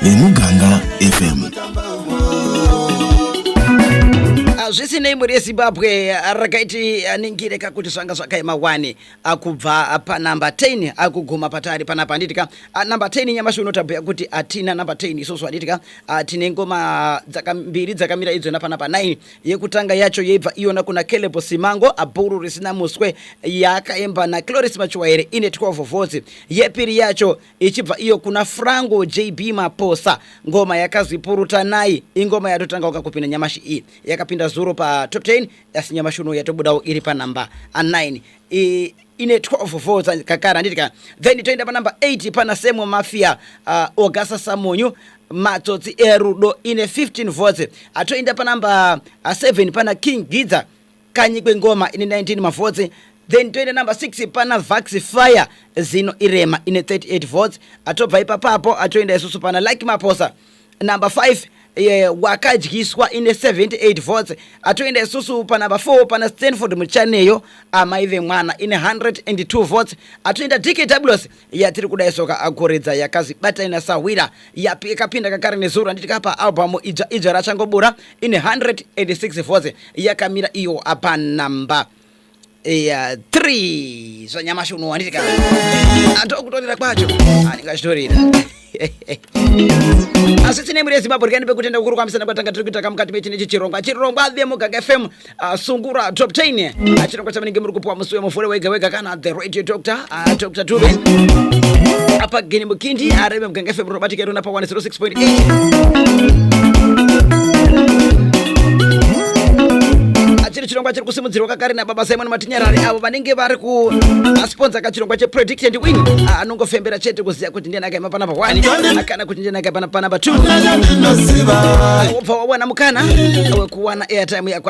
vemuganga fm zvisinei mhuri yezimbabwe rakaiti aningire kakuti zvanga zvakaema wani akubva panumber 10 akuguma patari panapa handiti ka number 10 nyamashi uno tabhuya kuti hatina number 10 isusu handiti ka tine ngoma mbiri dzakamira idzona panapa 9 Yekutanga yacho yeibva iyona kuna Caleb Simango abhuru risina muswe yaakaimba naCloris Machuwaire ine 12 votes. Yepiri yacho ichibva iyo kuna Frango JB Maposa ngoma yakazi Purutanai ingoma yatotangauka kupinda nyamashi iyi yakapinda zuro patop 10 asi nyamashi uno yatobudawo iri panhamba 9 I... ine 12 votes kakara handiti ka then toenda panumber 8 pana semo mafia uh, ogasa samonyu matsotsi erudo ine 15 votes atoenda panumber uh, 7 pana king gidza kanyi kwengoma ine 19 mavhotsi then toenda number 6 pana vax fire zino irema ine 38 votes atobva ipapapo atoenda isusu pana like maposa number 5 eh, wakadyiswa ine 78 votes atoenda isusu panumber 4 pana stanford muchaneyo amai vemwana ine 102 votes atoenda dkws yatiri kuda isoka agoredza yakazi batai nasahwira yapi yakapinda kakare nezuro handiti kapa albamu idzva idzva rachangobura ine 106 votes yakamira iyo apa number ya 3 zvanyamashi unowanika atokutorera kwacho anenge achitorera asi tine mhuri yezimbabwe rikani pekutenda kukuru kwamisana kwatanga tiri kuitaka mukati mechinechi chirongwa chirongwa the muganga fm uh, sungura top 10 achirongwa chavanenge muri kupuwa musi wemuvhure wega wega kana the Dr. Dr. Uh, Dr. Dube apa Gene Mukindi arebe muganga FM Robotic Erona pa 106.8 achiri chirongwa chiri kusimudzirwa kakare nababa simon matinyarari avo vanenge vari kuasponza kachirongwa chepredict and win Ah, anongofembera chete kuziva kuti ndiye nakaima panapa 1 kana kuti ndiye nakaima panapa 2 wobva wawana mukana wekuwana airtime yako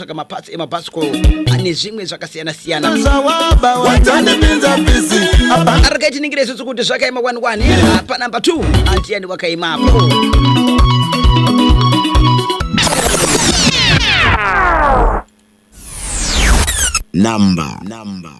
kutsvaga maparts emabhasikoro ane zvimwe zvakasiyana siyana arikaiti ningire isusu kuti zvakaima wani wani Ah, panumber 2 handiyani wakaimapo Number. Number.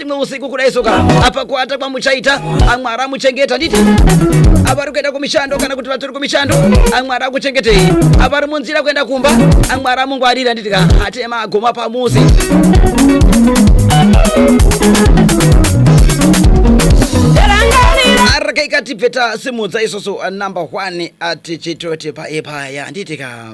rimwe usiku kudai soka apa kuata kwamuchaita amwari amuchengeta nditi avari kuenda kumishando kana kuti vatori kumishando amwari akuchengetei avari munzira kuenda kumba amwari amungwarira nditi ka atema agoma pamuzi araka ikati peta simudza isoso number one ati chitoti paepaya nditi ka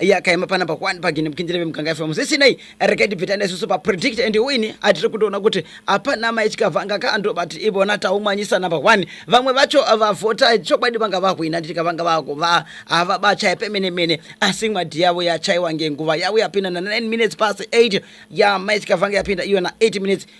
yakaima panapa kwani pagini mukindire vemuganga fm zvisinei regai tibvitane isusu papredict and win atiri kutoona kuti hapana mai chikavanga ka andobati ivona taumwanyisa number one vamwe vacho vavhota chokwadi vanga vahwina nditi kavanga vako va havabachaye pemene mene asi mwadhi yavo yachaiwa ngenguva yavo yapinda na 9 minutes past 8 ya mai chikavanga yapinda iyo na 8 minutes